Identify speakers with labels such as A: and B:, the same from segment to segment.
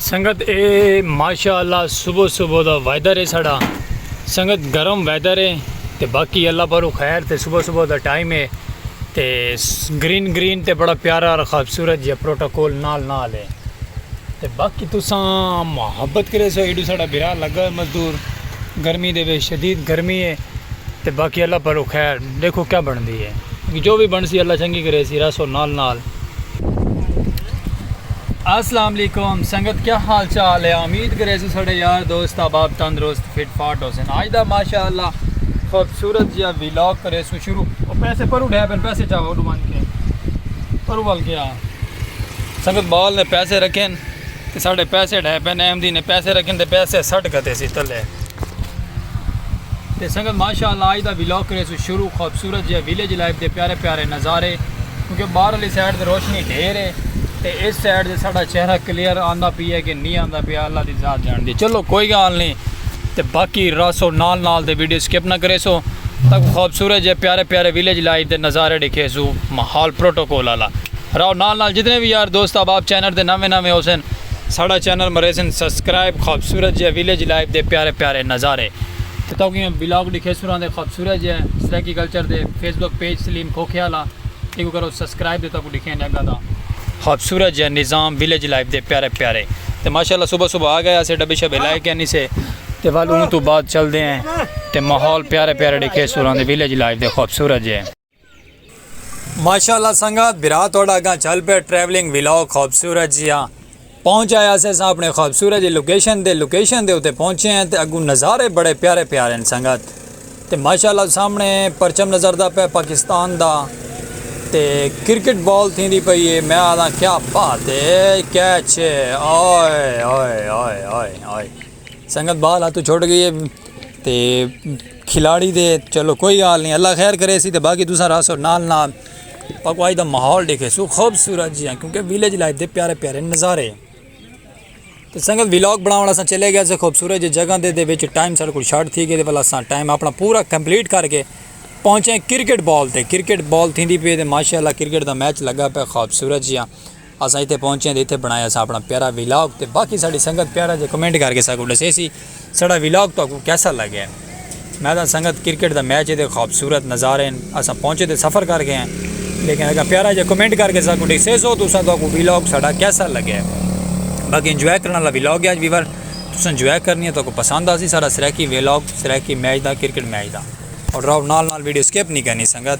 A: سنگت اے ماشاء اللہ صبح صبح دا ویدر ہے ساڑا سنگت گرم ویدر ہے تے باقی اللہ پرو خیر تے صبح صبح دا ٹائم ہے تے گرین گرین تے بڑا پیارا اور خوبصورت جہاں پروٹوکول نال نال ہے تے باقی تساں محبت کریسو ایڈو ساڈا بھرا لگا ہوئے مزدور گرمی دے وچ شدید گرمی ہے تے باقی اللہ پرو خیر دیکھو کیا بندی ہے جو بھی بنسی اللہ چنگی کریسی راسو نال نال۔ السلام علیکم سنگت کیا حال چال ہے امید کرے سو سڑے یار دوست احباب تندرست فٹ فاٹ ہو سن آج دا ماشاءاللہ خوبصورت جیا ویلاگ کرے سو شروع او پیسے پرو ڈھے پن پیسے چاہو ڈو مان کے پرو وال گیا سنگت بال نے پیسے رکھیں تے ساڑے پیسے ڈھے پین احمدی نے پیسے رکھیں تے پیسے سٹ گھتے سی تلے تے سنگت ماشاءاللہ آج دا ویلاگ کرے سو شروع خوبصورت جے ویلیج لائف دے پیارے پیارے نظارے کیونکہ باہر والی سائڈ تے روشنی ڈھیر ہے تے اس سائڈ تے ساڑا چہرہ کلیئر آندا پی ہے کہ نہیں آندا پی اللہ دی ذات جان دی چلو کوئی گال نہیں تے باقی راسو نال نال دے ویڈیو سکپ نہ کرے سو تک خوبصورت جے پیارے پیارے ویلیج لائف دے نظارے ڈکھے سو محال پروٹوکول اللہ راؤ نال نال جتنے وی یار دوست احباب چینل تے نویں نویں ہوسن ساڑا چینل مریسن سبسکرائب خوبصورت جیہے ویلیج لائف دے پیارے پیارے نظارے تے تہاکوں ایہہ ولاگ ڈکھیسوں راندے خوبصورت جیہے سرائیکی کلچر دے فیس بک پیج سلیم کھوکھے آلا ایکوں کرو سبسکرائب تے تہاکوں ڈکھیاں نے اگاں دا خوبصورت جیہے نظام ویلیج لائف دے پیارے پیارے تے ماشاءاللہ صبح صبح آ گئے اسے ڈبے شبے لائے کینی سے تے ول اوں توں بعد چلدے ہیں تے ماحول پیارے پیارے ڈکھیسوں راندے ویلیج لائف دے خوبصورت جیہے۔ ماشاءاللہ سنگت برا تھوڑا اگاں چل پہ ٹریولنگ ویلاگ خوبصورت جی ہاں پہنچ آیا سے اساں اپنے خوبصورت جی لوکیشن دے لوکیشن دے اتے پہنچے ہیں تے اگوں نظارے بڑے پیارے پیارے ہیں سنگت تے ماشاءاللہ سامنے پرچم نظر دا پہ پاکستان دا تے کرکٹ بال تھی دی پئی ہے میں آدھا کیا بات ہے کیچ ہے آئے آئے آئے آئے آئے سنگت بال ہاتھوں چھوٹ گئی ہے تے کھلاڑی دے چلو کوئی حال نہیں اللہ خیر کرے سی تے باقی دوسرا راسو نال نال پکوائی دا ماحول دیکھے سو خوبصورت جی ہیں کیونکہ ویلیج لائف دے پیارے پیارے نظارے تے سنگت ویلاگ بنا والا سا چلے گیا سے خوبصورت جی جگہ دے دے وچ ٹائم سارے کو شارٹ تھی گئے دے والا سا ٹائم اپنا پورا کمپلیٹ کر کے پہنچے کرکٹ بال تے کرکٹ بال تھی دی پہ دے ماشاءاللہ کرکٹ دا میچ لگا پہ خوبصورت جی ہیں اساں اتھے پہنچیاں تے اتھے بنڑایا اساں اپنڑاں پیارا ویلاگ تے باقی ساڈی سنگت پیارا جیہا کمنٹ کر کے ساکوں ڈسے سی ساڈا ویلاگ تہاکوں کیسا لگے۔ میں تاں سنگت کرکٹ دا میچ ایندے خوبصورت نظارے ہن اساں پہنچے تے سفر کر کے ہیں لیکن اگر پیارا جیہا کمنٹ کر کے ساکوں ڈسے سو تساں تہاکوں ویلاگ ساڈا کیسا لگے۔ باقی انجوائے کرن والا ویلاگ ہے اج ویور تساں انجوائے کرنی ہے تہاکوں پسند آسی ساڈا سرائیکی ویلاگ سرائیکی میچ دا کرکٹ میچ دا اور رہو نال نال ویڈیو سکپ نی کرنی سنگت۔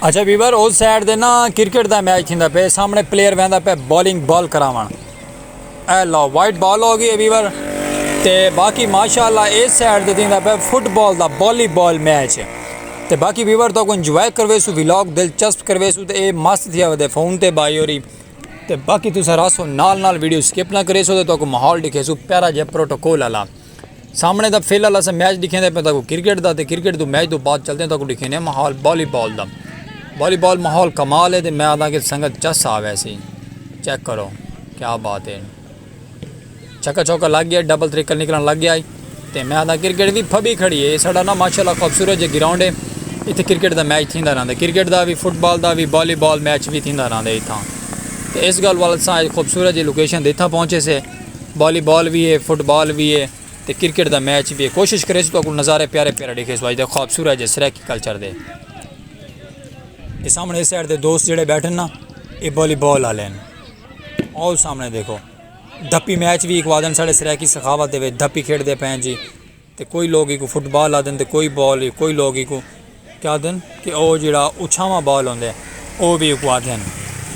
A: اچھا ویور اس سائیڈ دے نا کرکٹ دا میچ تھیندا پے سامنے پلیئر ویندا پے بالنگ بال کراون اے لو وائٹ بال ہو گئی ویور تے باقی ماشاءاللہ اس سائیڈ دے تھیندا پے فٹ بال دا بالی بال میچ تے باقی ویور تو کو انجوائے کروے سو ویلاگ دلچسپ کروے سو تے اے مست تھیا ودے فون تے بائی ہوری تے باقی تسا راسو نال نال ویڈیو سکپ نہ کرے سو تے تو کو ماحول دکھے سو پیارا جے پروٹوکول اللہ سامنے دا فی الحال اساں میچ ڈکھیں دے پے تاکو کرکٹ دا تے کرکٹ دو میچ دو بعد چلتے ہیں تاکو ڈکھیں دے ماحول بالی بال دا بالی بال ماحول کمال ہے تے میں آدھا کہ سنگت چس آوے سی چیک کرو کیا بات ہے چھکا چھوکا لگ گیا ڈبل تریکل نکلن لگ گیا تے میں آدھا کرکٹ بھی پھبی کھڑی ہے ساڑا نا ماشاءاللہ خوبصورت جے گراؤنڈ ہے اتھے کرکٹ دا میچ تھیندا رہندا کرکٹ دا بھی فٹ بال دا بھی بالی بال میچ بھی تھیندا رہندا اتھاں تے اس گل والد ساں خوبصورت جے لوکیشن دے اتھاں پہنچے سے والی بال وی ہے فٹ بال وی ہے تے کرکٹ دا میچ وی ہے کوشش کریسو تو اکول نظارے پیارے پیارے ڈیکھے سو آج دے خواب سورہ جے سریکی کلچر دے یہ سامنے اس سائڈ دے دوست جڑے بیٹھن نا یہ والی بال آ لین آؤ سامنے دیکھو دھپی میچ وی ایک وادن ساڑے سریکی سخاوت دے وے دھپی کھیڑ دے پین جی تے کوئی لوگ ایکوں فٹ بال آدھن تے کوئی بال ای کوئی لوگ ایکوں کیا آدھن کہ او جیڑا اچھاواں بال ہوندے او وی ایکوں آدھے ہن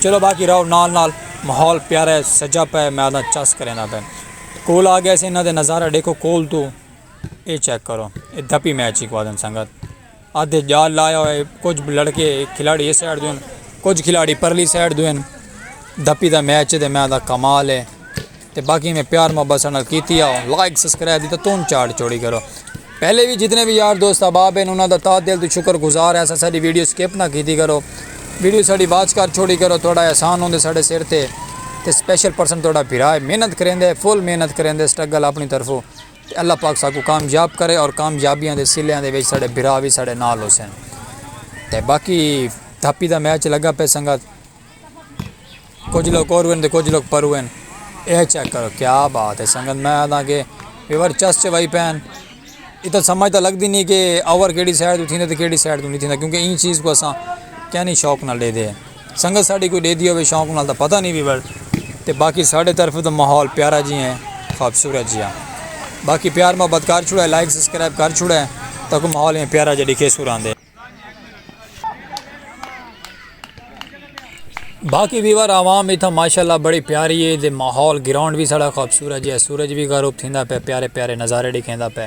A: چلو باقی رہو نال نال ماحول پیارا ہے سجا پئے میں آدھاں چس کریندا پئے کول آ گئے سے انہاں دے نظارہ ڈیکھو کول توں اے چیک کرو اے دھپی میچ ایکوں آدھن سنگت۔ آدھے جال لایا ہوئے کجھ لڑکے کھلاڑی اس سائیڈ دوئن کجھ کھلاڑی پرلی سائیڈ دوئن دھپی دا میچ دے میں دا کمال ہے تے باقی میں پیار محبت سنال کیتی آؤ لائک سبسکرائب دی تو تون چاڑ چوڑی کرو پہلے بھی جتنے بھی یار دوست احباب ہیں انہاں دا تا دل تو شکر گزار ہیں ساڈی ویڈیو سکپ نہ کیتی کرو ویڈیو ساڈی واچ کر چھوڑی کرو تھوڑا احسان ہوندے ساڈے سر تے تے سپیشل پرسن تھوڑا بھرا ہے محنت کریندے فل محنت کریندے سٹرگل اپنی طرفوں تے اللہ پاک ساکوں کامیاب کرے اور کامیابیاں دے سلیاں دے وچ ساڈے بھرا وی ساڈے نال ہوسن تے باقی دھاپی دا میچ لگا پئے سنگت کجھ لوگ اور وین تے کجھ لوگ پر وین اے چیک کرو کیا بات ہے سنگت میں آدھاں کہ ویور چس چ وائی پین اتنا سمجھ تاں لگدی نہیں کہ اوور کیڑی سائڈ تو تھیندے تے کیڑی سائڈ تو نہیں تھیندا کیونکہ ایں چیز کو اساں کینی شوق نال ڈے دے ہیں سنگت ساڈی کوئی ڈیدھی ہووے شوق نال تاں پتہ نی وی وڑ تے باقی ساڈے طرفوں تاں ماحول پیارا جی ہیں خوبصورت جیا باقی پیار محبت کر چھوڑے لائک سبسکرائب کر چھوڑے تاکوں ماحول ایویں پیارا جیا ڈیکھے سو راندے باقی ویور عوام ایتھا ماشاءاللہ بڑی پیاری ہے دے ماحول گراؤنڈ بھی ساڑا خوبصورت جیا سورج بھی غروب تھیندا پے پیارے پیارے نظارے ڈیکھیندا پے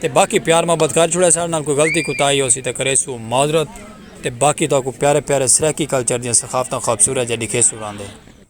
A: تے باقی پیار محبت کر چھوڑے ساڈے نال کوئی غلطی کوتاہی ہوسی تاں کریسوں معذرت تے باقی تہاکوں پیارے پیارے سرائیکی کلچر دیاں ثقافتاں خوبصورت جیاں ڈکھیسوں راندے۔